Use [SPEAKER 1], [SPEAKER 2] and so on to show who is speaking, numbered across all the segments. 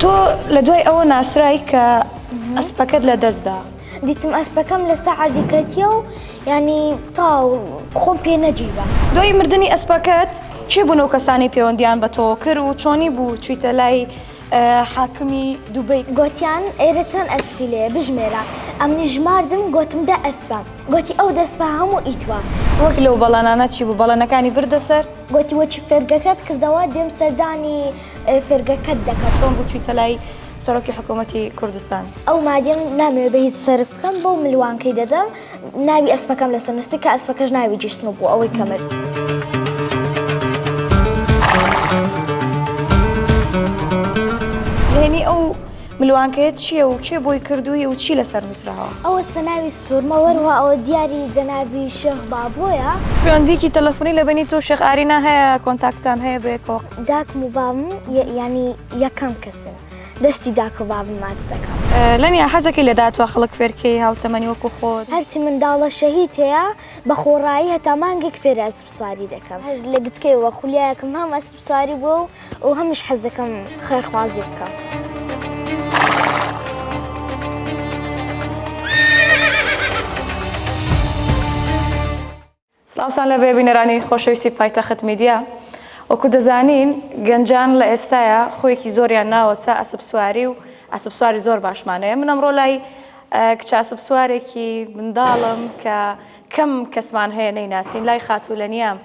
[SPEAKER 1] تۆ لە دوای ئەوە ناسرای کە ئەسپەکەت لە دەستدا دیتم ئەسپەکەم
[SPEAKER 2] لە سەعادی کەتیە و ینی تاو خۆم پێ نەجیبە دوای مردنی
[SPEAKER 1] ئەسپەکەت چێ بوون و کەسانی پەیوەندیان بە تۆ کرد و چۆنی بوو چیتە لای حاکمی دوبەی. گۆتیان ئێرە
[SPEAKER 2] چەن ئەسپی لێیە بژمێرە ئەمنیش ژماردم گۆتم دە ئەسپە گۆتی ئەو دە سپە هەموو ئیتوە. وەک لەو بەڵەنانە
[SPEAKER 1] چی بوو بەڵەنەکانی بردە سەر؟ گۆتی وەچی فێرگەکەت
[SPEAKER 2] کردەوە دێم سەردانی فێرگەکەت دەکەم. چۆن بوو چویتە لای
[SPEAKER 1] سەرۆکی حکومەتی کوردستان؟ ئەو مادەم
[SPEAKER 2] نامەوێ بە هیچ سەرف بکەم بەو ملوانکەی دەدەم. ناوی ئەسپەکەم لەسەر نووسی کە ئەسپەکەش ناوی جیسن و بوو ئەوەی کەمرد.
[SPEAKER 1] نهێنی ئەو ملوانکەیە چییە و کێ بۆی کردووی و چی لەسەر نووسراوە؟ ئەو ئەسپە ناوی
[SPEAKER 2] ستوورمە و هەروەها ئەوە دیاری جەنابی شێخ بابۆیە. پەیوەندییەکی تەلەفۆنی
[SPEAKER 1] لە بەینی تۆ و شێخ ئارینا هەیە؟ کۆنتاکتتان هەیە بەیەکەوە؟ داکم و بابم
[SPEAKER 2] یانی یەکەم کەسن. دەستی داکۆ بابم ماچ دەکەم. لەنیا حەزەکەی لە
[SPEAKER 1] داتوە خەڵک فێرکەی هاوتەمەنی وەکو خۆت. هەرچی منداڵە
[SPEAKER 2] شەهید هەیە بە خۆڕایی هەتا مانگێک فێری ئەسپ سواری دەکەم هەر لە گتکەیەوە خولیایەکم هەم ئەسپ سواری بووە و هەمیش حەز دەکەم خێرخوازی بکەم.
[SPEAKER 1] سڵاوتان لەبێ بینەرانی خۆشەویستی پایتەخت میدیا وەکو دەزانین گەنجان لە ئێستایا خۆیەکی زۆریان ناوەتە ئەسپ سواری و ئەسپ سواری زۆر باشمانەیە من ئەمڕۆ لای کچە ئەسپ سوارێکی منداڵم کە کەم کەسمان هەیە نەیناسین لای خاتوو لە نیام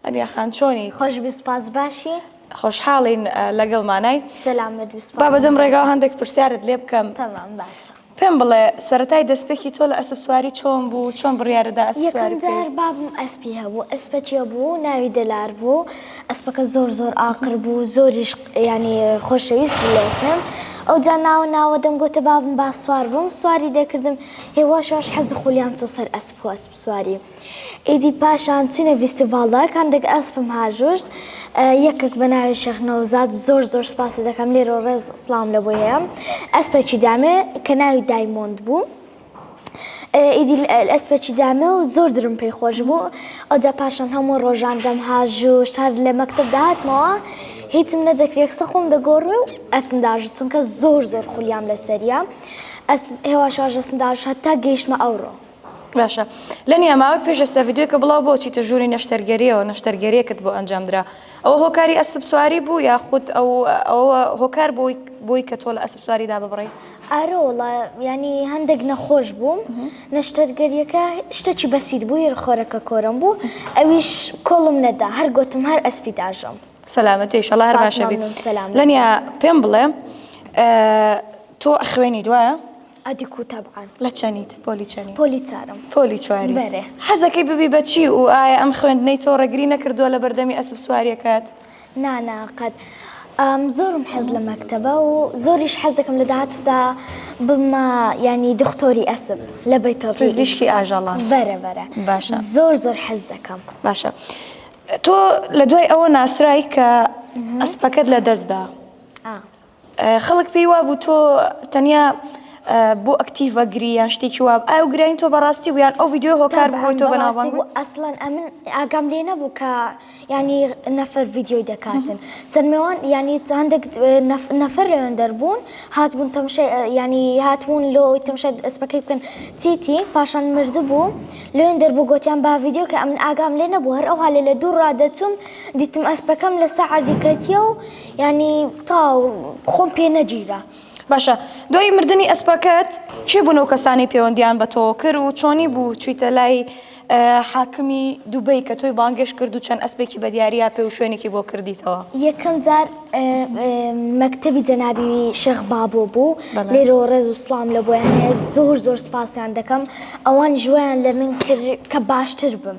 [SPEAKER 1] ئەنیا خان چۆنی خۆش بسپاس
[SPEAKER 2] باشی خۆشحاڵین
[SPEAKER 1] لەگەڵ مانای سەلامت
[SPEAKER 2] بابەدەم ڕێگا هەندێک
[SPEAKER 1] پرسیارت لێ بکەم تەمام باشە
[SPEAKER 2] پێم بڵێ
[SPEAKER 1] سەرەتای دەستپێکی تۆ لە ئەسپ سواری چۆن بوو چۆن بڕیارەدا ئەسپ سواری بکەی؟ یەکەم جار بابم
[SPEAKER 2] ئەسپی هەبوو ئەسپەکی بوو ناوی دەلار بوو ئەسپەکە زۆر زۆر ئاقر بوو زۆریش ینی خۆشەویست بلێکم ئەو جا ناوە ناوە دەم گوتە بابم با سوار بووم سواری دەکردم هێواشەوەش حەز خولیان چۆ سەر ئەسپ و ئەسپ سواری ئیدی پاشان چوینە ڤیستیڤاڵدا کام دەک ئەسپم هاژوشت یەکەک بە ناوی شێخ نەوزاد زۆر زۆر سپاست دەکەم لێرۆ ڕێز سڵاوم لە بۆی هەیە ئەسپەکی دامێ کە ناوی دایمۆند بوو ئیدی ئەسپەکی دامێ و زۆر درم پێی خۆش بوو ئەودا پاشان هەموو ڕۆژان دەم هاژوشت هەر لە مەکتب داتمەوە هیچم نەدەکرێت قسە خۆم دەگۆڕی و ئەسپم داژوت چونکە زۆر زۆر خولیام لەسەریە ئەس هێواشواژەسم داژ هەتا گەیشتمە ئەوڕۆ باشە
[SPEAKER 1] لە نیاماوە پێش ئێستا ڤیددیوکە بڵاو بۆ چیتە ژووری نەشتەرگەریەوە نەشتەرگەریەکت بۆ ئەنجامدرا ئەوە هۆکاری ئەسب سواری بوو یا خودت ئەو ئەوە هۆکار بۆی بۆی کە تۆ لە ئەسب سواریدا ببڕی ئارۆ وڵا
[SPEAKER 2] ینی هەندێک نەخۆش بووم نەشتەرگەریەکە شتێکی بەسیت بوو هێرخۆرەکە کۆرم بوو ئەویش کۆڵم نەدا هەر گوتم هەر ئەسپی داژم سەلامەتی شەڵار
[SPEAKER 1] باشە سەلام لەنیا پێم بڵێ تۆ ئەخوێنیت وایە؟ ئەدیکو تەبعەن.
[SPEAKER 2] لە چەنیت؟ پۆلی
[SPEAKER 1] چەنی؟ پۆلی چارم. پۆلی
[SPEAKER 2] چواری. بەرێ.
[SPEAKER 1] حەزەکەی ببی
[SPEAKER 2] بە
[SPEAKER 1] چی و ئایا ئەم خوێندنەی تۆ ڕێگری نەکردووە لە بەردەمی ئەسپ سوارییەکەت؟ نا نا
[SPEAKER 2] قەت. زۆرم حەز لە مەکتەبە و زۆریش حەز دەکەم لە داهاتوودا ببمە یانی دختۆری ئەسپ لە بەیتۆپی. پزیشکی ئاژەڵان.
[SPEAKER 1] بەرە بەرە.
[SPEAKER 2] باشە. زۆر زۆر
[SPEAKER 1] حەز
[SPEAKER 2] دەکەم. باشە.
[SPEAKER 1] تۆ لە دوای ئەوە ناسرای کە ئەسپەکەت لە دەست دا. ئا. خەڵک پێی وابوو تۆ تەنیا بۆ ئەکتیڤ ئەگری یان شتێکی واب ئایا و گرانی تۆ بەڕاستی بوو یان ئەو ویددیو هۆکار بووی تۆ بەناوبانگ بوو ئەسڵەن ئەمن
[SPEAKER 2] ئاگام لێ نەبوو کە ینی نەفەر ویددیۆی دەکاتن چەند مێوان ینی هەندێک نەفەر لەوێن دەربوون هاتبوون تەمشە ینی هاتبوون لۆ تەمشە ئەسپەکەی بکەن چیتی پاشان مرد بوو لەوێن دەربوو گوتیان با ویددیو کە ئەمن ئاگام لێ نەبوو هەر ئەوها لێ لە دوو ڕادەچوم دیتم ئەسپەکەم لە سەعردی کەتیە و یانی تاو خۆم پێ نەگیرا. باشە
[SPEAKER 1] دوای مردنی ئەسپەکەت کێ بوون ئەو کەسانەی پێوەندیان بە تۆوە کرد و چۆنی بوو چوویتە لای حاکمی دوبەی کە تۆی بانگێشت کرد و چەند ئەسپێکی بە دیاریا پێ و شوێنێکی بۆ کردیتەوە؟ یەکەم جار
[SPEAKER 2] مەکتەبی جەنابی شێخ بابۆ بوو بەڵێ. لێرەوە ڕێز و سڵام لە بۆیان هەیە زۆر زۆر سپاسیان دەکەم ئەوان ژوەیان لە من کرد کە باشتر بم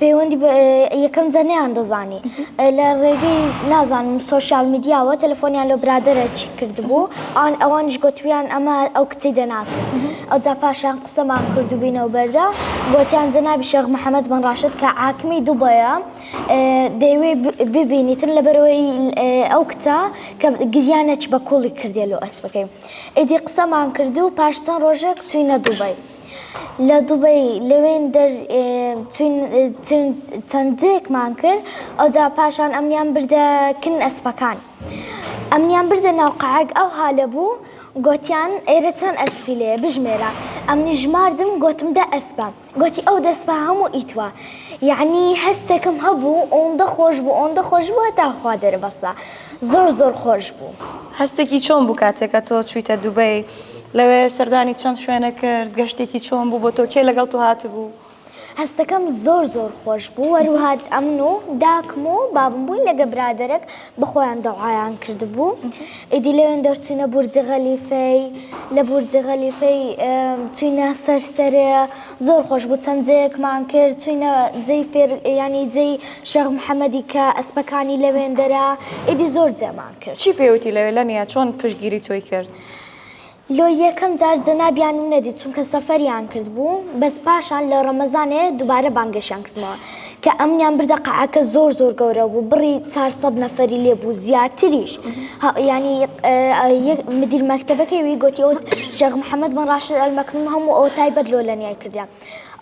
[SPEAKER 2] پەیوەندی بە یەکەم جە نەیان دەزانی لە ڕێگەی نازانم سوۆسیال میدیاوە تەلەفۆنیان لە برادرە چی کردبوو ئان ئەوانش گوتویان ئەمە ئەو کچی دەناسن ئەو جا پاشان قسەمان کردوبینەوە بەردا گوتیان جەنابی شێخ محەممەد بن ڕاشد کە عاکمی دوبەیە دەیوێ ببینیتن لەبەرەوەی ئەو کچە کە گریانەچ بە کوڵی کردێ لۆ ئەسپەکەی ئیدی قسەمان کردو پاش چەند ڕۆژێک چوینە دوبەی لە دوبەی لەوێن دەر چەندێکمان کرد ئەودا پاشان ئەمیان بردە کن ئەسپەکان ئەمیان بردە ناوقعک ئەو هاالە بوو گوتیان ئێرە چەند ئەسپی لێ بژمێرە ئەم نژماردم گوتم دە ئەسپە گوتی ئەو دەستپا هەموو ئیتوە یعنی هەستێکم هەبوو ئەوەندە خۆش بوو ئەوەندە خۆش بووە تاخوا دەربەسە زۆر زۆر خۆش بوو. هەستێکی چۆن بوو
[SPEAKER 1] کاتێک کە تۆ چوویتە دوبەی؟ لەوێ سەردانی چەند شوێنە کرد؟ گەشتێکی چۆن بوو بۆ تۆ؟ کێ لەگەڵ تۆ هاتبوو؟ هەستەکەم
[SPEAKER 2] زۆر زۆر خۆش بوو هەروەها ئەمن و داکم و بابم بووین لەگە برادەرەک بە خۆیان دەوعایان کردبوو ئیدی لەوێن دەرچوینە بورجی غەلیفەی لە بورجی غەلیفەی چوینە سەر سەرێ زۆر خۆش بوو چەند جەیەکمان کرد چوینە جەی فێر یانی جەی شەخ محەمەدی کە ئەسپەکانی لەوێندەرا ئیدی زۆر جێمان کرد. چی پێوتی لەوێ لەنیا
[SPEAKER 1] چۆن پشتگیری تۆی کرد؟ لۆ
[SPEAKER 2] یەکەم جار جەنابیانم نەدیت چونکە سەفەریان کردبوو بەس پاشان لە ڕەمەزانێ دوبارە بانگەشیان کردمەوە کە ئەمنیان بردە قەعەکە زۆر زۆر گەورە بوو بڕی چار سەد نەفەری لێ بوو زیاتریش ها- یانی اه، یەک مدیر مەکتەبەکەی وی گۆتی ئەوت شێخ محەمەد بن ڕاشد ئەلمەکنوم هەموو ئەوە تایبەت لۆ لەنیای کردیان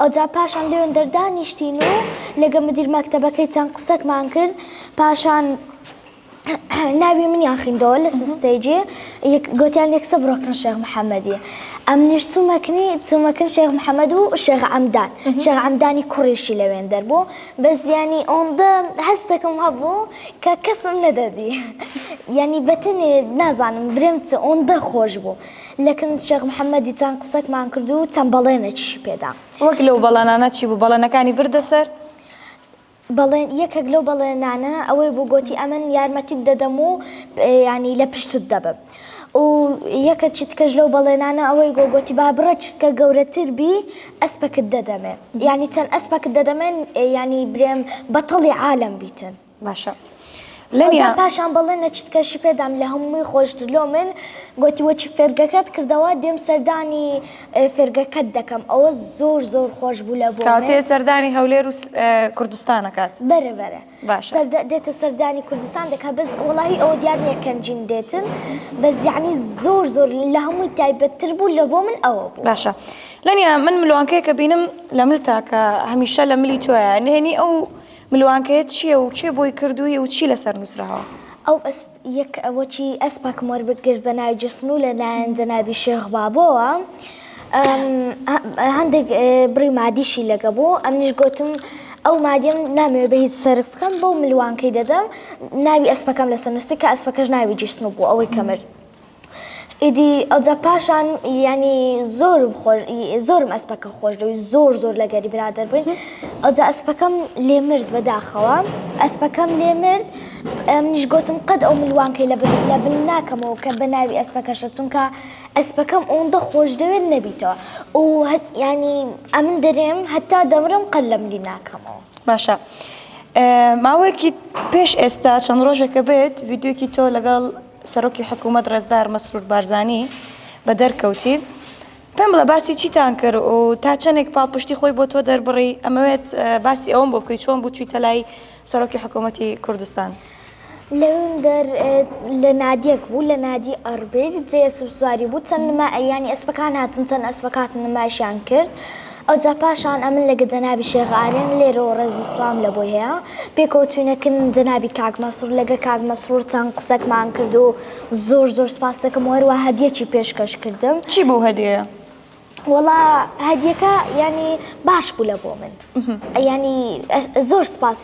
[SPEAKER 2] ئەوجا پاشان لێوێن دەردانیشتین و لەگە مدیر مەکتەبەکەی چەند قسەکمان کرد پاشان ناوی منیان خیندەوە لە سستەیجێ گوتیان یەک سە بڕۆکن شێخ محەممەدی ئەم نیش چوومەکنی چوومەکن شێخ محەممەد و شێخ ئەمدان شێخ ئەمدانی کوڕیشی لەوێن دەربوو بە زیانی ئەوەندە هەستەکەم هەبوو کە کەسم نەدەدی یعنی بەتەنێ نازانم برێم چ ئەوەندە خۆش بوو لەکن شێخ محەممەدی چەند قسەکمان کرد و چەند بەڵێنێکیشی پێدا وەک لەو بەڵانانە
[SPEAKER 1] چی بوو بەڵێنەکانی بردە سەر
[SPEAKER 2] بەڵێن یەکەک لەو بەڵێنانە ئەوەی بوو گۆتی ئەمن یارمەتیت دەدەم و یانی لە پشتت دەبم و یەکە چیتکەش لەو بەڵێنانە ئەوەی گۆ گۆتی با بڕە چیتکە گەورەتر بی ئەسپەکت دەدەمێ یانی چەند ئەسپەکت دەدەمێن یانی برێم بەتەڵی عالم بیتن باشە
[SPEAKER 1] لەنیا
[SPEAKER 2] پاشان بەڵێ نەچیت کەشی پێدام لە هەمووی خۆشتر لۆ من گوتی وەچی فێرگەکەت کردەوە دێم سەردانی فێرگەکەت دەکەم ئەوە زۆر زۆر خۆش بوو لە بۆ کاتێ سەردانی هەولێر
[SPEAKER 1] و کوردستانەکات بەرە بەرە
[SPEAKER 2] باش دێتە سەردانی کوردستان دەکات بەس وڵی ئەوە دیار نیە کەنجیم دێتن بە زیانی زۆر زۆر لە هەمووی تایبەتتر بوو لە بۆ من ئەوە بوو باشە لەنیا
[SPEAKER 1] من ملوانکەیە کە بینم لە مل تاکە هەمیشە لە ملی تۆە نهێنی ئەو ملوانکەیەت چیە و کێ بۆی کردووی و چی لەسەر نووسراوە؟ ئەو ئەسپ
[SPEAKER 2] یە کە وەکی ئەسپەکم وەربگرت بە ناوی جەستن و لە لایەن جەنابی شێخ بابۆوە هەندێک بڕی مادیشی لەگە بوو ئەمنیش گۆتم ئەو مادیم نامەوێ بە هیچ سەرف بکەم بەو ملوانکەی دەدەم ناوی ئەسپەکەم لەسەر نووسی کە ئەسپەکەش ناوی جیسن بوو ئەوەی کە مرد. ئیدی ئەوجا پاشان یعنی زۆرم خۆش زۆرم ئەسپەکە خۆش دەوی زۆر زۆر لە گەری برادر بووین ئەوجا ئەسپەکەم لێ مرد بەداخەوە ئەسپەکەم لێ مرد منیش گوتم قەت ئەو ملوانکەی لە لە بل ناکەمەوە کە بە ناوی ئەسپەکەشە چونکە ئەسپەکەم ئەوەندە خۆش دەوێت نەبیتەوە و ینی ئەمن دەرێم هەتا دەمرم قەل لە ملی ناکەمەوە باشە.
[SPEAKER 1] ماوەیەکی پێش ئێستا چەند ڕۆژێکە بێت یددیوکی تۆ لەگەڵ سەرۆکی حکوومەت ڕێزدار مەسرور بارزانی بە دەرکەوتی، پێم بڵێ باسی چیتان کرد و تا چەندێک پاڵپشتی خۆی بۆ تۆ دەربڕی، ئەمەوێت باسی ئەوەم بۆ بکەی چۆن بوو چوویتە لای سەرۆکی حکوومەتی کوردستان؟
[SPEAKER 2] لەویندەر لە نادیەک بوو لە نادی ئەڕبیل جێ ئەسپ سواری بوو چەند نما یانی ئەسپەکان هاتن چەند ئەسپەکات نمایشیان کرد ئەوجا پاشان ئەمن لەگە جەنابی شێخ ئارێن لێرەوە ڕێز و سڵام لە بۆی هەیە پێکەوەچوینە کن جەنابی کاک مەسرور لەگە کاک مەسرور چەن قسەکمان کرد و زۆر زۆر سپاستەکەم و هەروا هەدیەکی پێشکەش کردم. چی بوو هەدیە؟
[SPEAKER 1] وەڵا
[SPEAKER 2] هەدیەکە یانی باش بوو لە بۆ من یانی زۆر سپاست.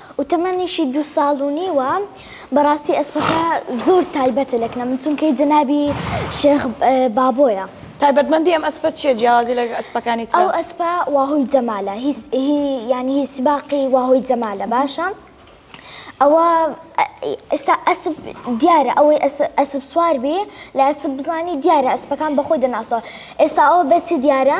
[SPEAKER 2] و تەمەنیشی دوو ساڵ و نیوە بەڕاستی ئەسپەکە زۆر تایبەتە لە کنە من چونکەی جەنابی شێخ بابۆیە.
[SPEAKER 1] تایبەتمەندی ئەم ئەسپە چیە جیاوازی لە ئەسپەکانی ترە؟ ئەو ئەسپە واهۆی
[SPEAKER 2] جەمالە هی هی یانی هی سباقی واهۆی جەمالە باشە ئەوە ئێستا ئەسپ دیارە ئەوەی ئەسپ سوار بی لە ئەسپ بزانی دیارە ئەسپەکان بەخۆی دەناسەوە ئێستا ئەوە بەچی دیارە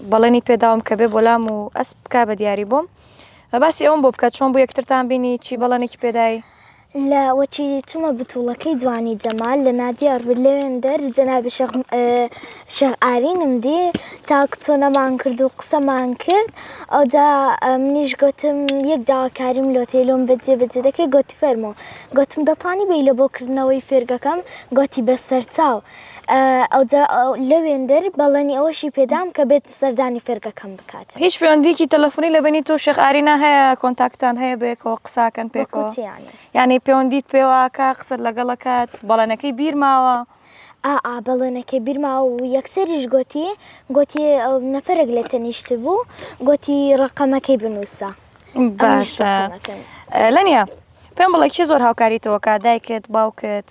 [SPEAKER 1] بەڵێنی پێداوم کە بێ بۆلام و ئەسپ بکا بە دیاری بۆم باسی ئەوم بۆ بکە چۆن بوو یەکترتان بینی چی بەڵێنێکی پێدای لە وەچی
[SPEAKER 2] چمە بتوڵەکەی جوانی جەمال لە نادیار بر لەوێندەر جەنابی شێخ م- ئە، شێخ ئارینم دی چاک چۆنەمان کرد و قسەمان کرد ئەوجا ئە، منیش گۆتم یەک داواکاریم لۆ تێ لۆم بە جێبەجێ دەکەی گۆتی فەرموو گۆتم دەتانی بێی لە بۆ کردنەوەی فێرگەکەم گۆتی بە سەرچاو ئەوجا لەوێندەر بەڵێنی ئەوەشی پێدام کە بێت سەردانی فێرگەکەم بکات. هیچ پێوەندیەکی تەلەفونی
[SPEAKER 1] لە بەینی تۆو شێخ ئارینا هەیە کۆنتاکتان هەیە بەیەکەوە قساکەن پێکەوە؟ وەکو چی یانی؟ یانی پێوەندیت پێواکا قسەت لەگەڵ ئەکات بەڵێنەکەی بیر ماوە؟ ئا ئا
[SPEAKER 2] بەڵێنەکەی بیر ماوە و یەکسەریش گۆتی گۆتی نەفەرێک لێ تەنیشتبوو گۆتی ڕەقەمەکەی بنووسە. باشە
[SPEAKER 1] لەنیا پێم بڵێ کێ زۆر هاوکاری تۆ ئەکا دایکت باوکت؟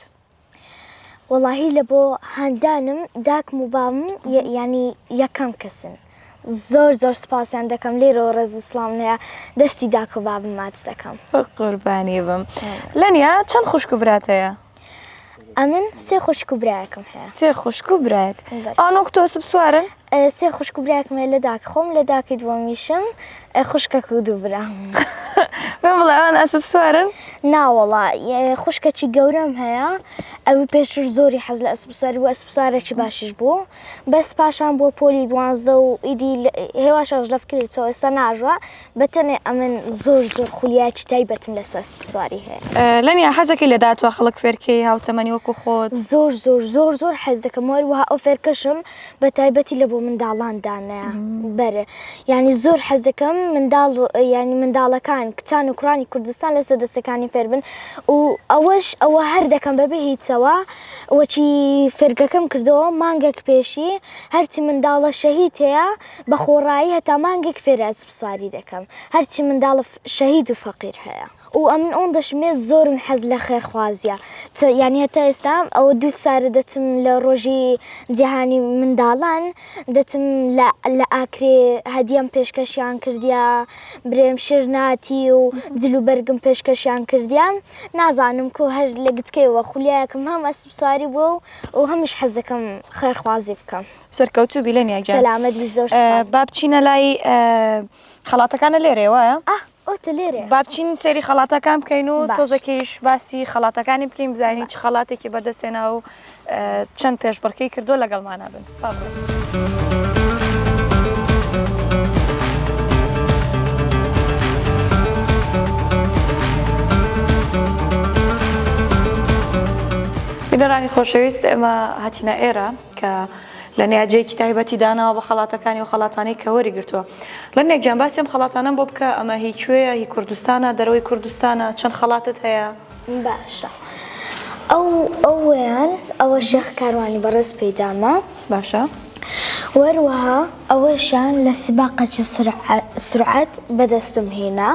[SPEAKER 2] وەڵاهی لە بۆ هاندانم داکم و بام ینی یەکەم کەسن زۆر زۆر سپاسیان دەکەم لێرەوە ڕێز و سلام لەیە دەستی داک و بابم ماچ دەکەم قوربانی بم
[SPEAKER 1] لەنیا چەند خوشک و براتەیە ئەمن
[SPEAKER 2] سێ خوشک و برایەکم هەیە سێ خوشک و برایەک
[SPEAKER 1] ئەوان وەک تۆسب سوارن سێ خوشک و
[SPEAKER 2] براکم هەیە لە داک خۆم لە داکی دووەمیشم خوشکەک و دوو برام من
[SPEAKER 1] بڵێوان ئەسب سوارن ناوەڵا
[SPEAKER 2] خوشکەچی گەورەم هەیە ئەوی پێشتر زۆری حەز لە ئەسب سواری و ئەسب سوارێکی باشش بوو بەس پاشان بۆ پۆلی دوانزدە و ئیدی هێواشەش لەفکرێتەوە ئێستا ناژوە بەتەنێ ئەمن زۆر زۆر خولیاکی تایبەتم لەسەر سپسواری هەیە لەنیا حەزەکەی لە
[SPEAKER 1] داتوە خەڵک فێرکەی هاوتەمەنی وەکو خۆت زۆر زۆر زۆر زۆر
[SPEAKER 2] حەز دەکەم وەر وها ئەو فێرکەشم بە تایبەتی لە بۆ منداڵان دانە بەرە ینی زۆر حەز دەکەم منداڵ ینی منداڵەکان کچان و کوڕانی کوردستان لەسە دەستەکانی فێربن و ئەوەش ئەوە هەر دەکەم بەبێ هیچەوە وەچی فێرگەکەم کردەوە مانگەک پێشی هەرچی منداڵە شەهید هەیە بە خۆڕایی هەتا مانگێک فێری ئەسپ سواری دەکەم هەرچی منداڵ شەهید و فەقیر هەیە و ئەمن ئۆن دەشمێ زۆرم حەز لە خێرخوازیە چ یانی هەتا ئێستا ئەوە دوو سارە دەچم لە ڕۆژی جیهانی منداڵان دەچم لە لە ئاکرێ هەدیەم پێشکەشیان کردیا برێم شرناتی و جل و بەرگم پێشکەشیان کردیا نازانم کو هەر لە گتکەی وە خولیایەکم هەم ئەسپ سواری بووە و هەمیش حەزەکەم خێرخوازی بکەم. سەرکەوتو بی لەنیا
[SPEAKER 1] گیان سەلامەت بی زۆر سپاس با
[SPEAKER 2] بچینە لای
[SPEAKER 1] خەڵاتەکانە لێرێ وایە ئۆتە لێرێ با بچین سێری خەڵاتەکان بکەین و تۆزەکەیش باسی خەڵاتەکانی بکەین بزانین چ خەڵاتێکی بەدەستێنا و چەند پێشبڕکەی کردو لەگەڵمانە بن فابڵێ. بینەرانی خۆشەویست ئێمە هاتینە ئێرە کە لە نیاجێکی تایبەتی داناوە بە خەڵاتەکانی و خەڵاتانەی کە وەریگرتووە. لەمێک گیان باسی ئەم خەڵاتانەم بۆ بکە، ئەمە هی کوێیە، هی کوردستانە، دەرەوەی کوردستانە، چەند خەڵاتت هەیە؟ باشە
[SPEAKER 2] ئەو ئەوەیان ئەوە شێخ کاروانی بەڕێز پێیدامە. باشە.
[SPEAKER 1] و هەروەها
[SPEAKER 2] ئەوەشیان لە سباقەچ سرعەت بەدەستم هێنا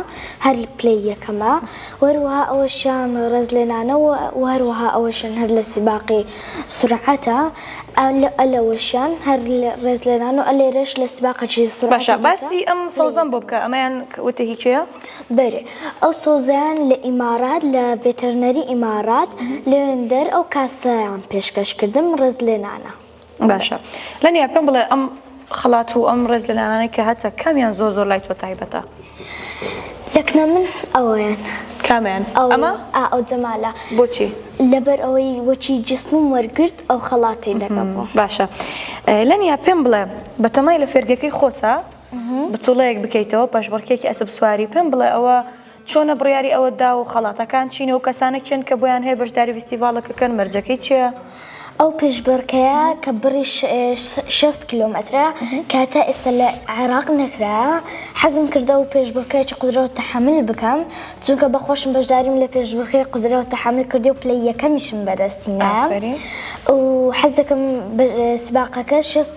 [SPEAKER 2] هەر پلەی یەکەمە و هەروەها ئەوەشیان ڕێزلێنانەوە و هەروەها ئەوەشیان هەر لە سباقی سرعەتە ئە ئە لەوەشیان هەر ڕێز لێنان و ئە لێرەش لە سباقە چیزە سرعەتە باشە باسی ئەم
[SPEAKER 1] سەوزەم بۆ بکە ئەمەیان وتە هی کێیە؟ بەرێ
[SPEAKER 2] ئەو سەوزەیان لە ئیمارات لە ڤێتەرنەری ئیمارات لەوێندەر ئەو کاسەیان پێشکەش کردم ڕێز لێنانە. باشە
[SPEAKER 1] لەنیا پێم بڵێ ئەم. خەڵات و ئەم ڕێز لەلانانەی کە هەتە کامیان زۆر زۆر لای تۆ تایبەتە؟
[SPEAKER 2] یەکنە من ئەوەیان.
[SPEAKER 1] کامیان؟
[SPEAKER 2] ئەو ئەمە؟
[SPEAKER 1] ئا ئەو
[SPEAKER 2] جەمالە. بۆچی؟ لەبەر ئەوەی وەکی جسمم وەرگرت ئەو خەڵاتی لەگەڵ بوو. باشە
[SPEAKER 1] لەنیا پێم بڵێ بەتەمای لە فێرگەکەی خۆتا بتوڵەیەک بکەیتەوە پەشبڕکێکی ئەسپ سواری پێم بڵێ ئەوە چۆنە بڕیاری ئەوەت داوە و خەڵاتەکان چینە و کەسانە کێن کە بۆیان هەیە بەشداری ڤیستیڤاڵەکەکەن مەرجەکەی چیە؟ ئەو
[SPEAKER 2] پشبڕکێیە کە بڕی شەست کیلۆمەترە کە تا ئێستا لە عێراق نەکرایە حەزم کردەوە پێشبڕکێکی قدرەو تەحەمل بکەم چونکە بە خۆشم بەشداریم لە پێشبڕکێی قدرەو تەحەمل کردی و پلەی یەکەمیشم بەدەستی نایە و حەز دەکەم سباقەکە شەست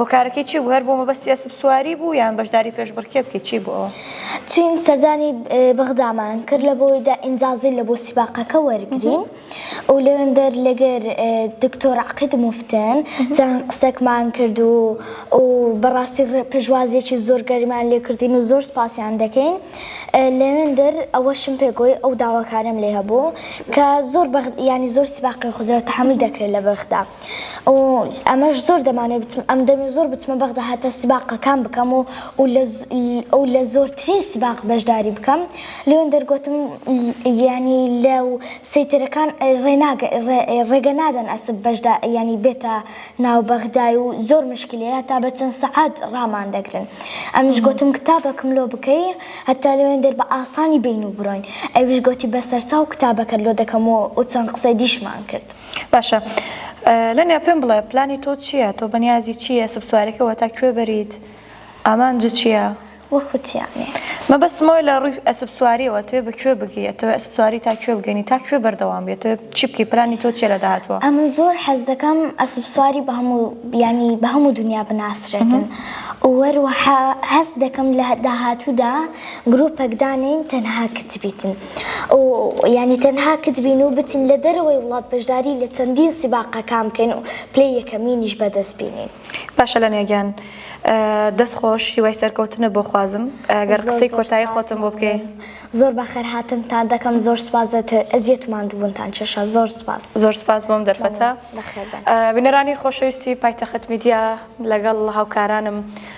[SPEAKER 1] هۆکارەکەی چی بوو هەر بۆ مەبەستی ئەسپسواری بوو یان بەشداری پێشبڕکێ بکەیت چی بوو ئەوە؟ چین سەردانی
[SPEAKER 2] بەغدامان کرد لە بۆیدا ئینجازی لە بۆ سیباقەکە وەرگین و لەوێندەر لەگەر دکتۆر عقید مفتن چەند قسەکمان کرد و و بەڕاستی پێشوازێکی زۆر گەریمان لێکردین و زۆر سپاسیان دەکەین لەوێندەر ئەوەشم پێگۆی ئەو داواکارم لێ هەبوو کە زۆر ینی زۆر سیباقی خزرەوە تحمل دەکرێت لە بەغدا. و ئەمەش زۆر دەمانێ بچم ئەم دەمێ زۆر بچمە بەغدا هەتا سباقەکان بکەم و و لە زۆرترین سباق بەشداری بکەم لێون دەرگوتم ینی لە و سیترەکان ڕێناگە ڕێگە نادەن ئەسب بەشدا ینی بێتە ناو بەغدای و زۆر مشکلەیە تا بە چەند سەعات ڕامان دەگرن ئەمش گوتم کتابەکم لۆ بکەی هەتا لێوێن دەر بە ئاسانی بین و بڕۆین ئەویش گوتی بەسەرچاو کتابەکە لۆ دەکەمەوە و چەند قسەی دیشمان کرد. باشە
[SPEAKER 1] لەنیا پێم بڵێ پلانی تۆ چییە تۆ بەنیازی چییە سبسوارەکەەوە تا کوێ بەریت ئامانج چییە وەخوتیانێ
[SPEAKER 2] مەبەسمەوەی
[SPEAKER 1] لە ڕووی ئەسبسواریەوە توێ بە کوێ بگەیەتەوە ئەسبسواری تا کوێ بگەنی تا کوێ بەردەوام بێتەوە چی بکەی پلانی تۆ چێ لە داهاتوە ئەمن زۆر حەز
[SPEAKER 2] دەکەم ئەسبسواری بە هەموو بیانی بە هەموو دنیا بناسرێتن وەروەها هەست دەکەم لە داهاتوودا گرروپەکدانین تەنها کچ بیتن. و یانی تەنها کچ بین و بچین لە دەرەوەی وڵات بەشداری لە چەندین سیباقەکان بکەین و پلەی یەکەمینیش بەدەست بینین. باشە لەنیا گیان
[SPEAKER 1] دەست خۆش هیوای سەرکەوتنە بۆ خوازم گەر قسەی کۆتایی خۆتم بۆ بکەی زۆر بەخێر
[SPEAKER 2] هاتنتان دەکەم زۆر سپاس ئەزیەت ماندوبونتان کێشا زۆر سپاس زۆر سپاس بۆم دەرفەتە
[SPEAKER 1] بینەرانی خۆشەویستی پایتەخت میدیا لەگەڵ هاوکارانم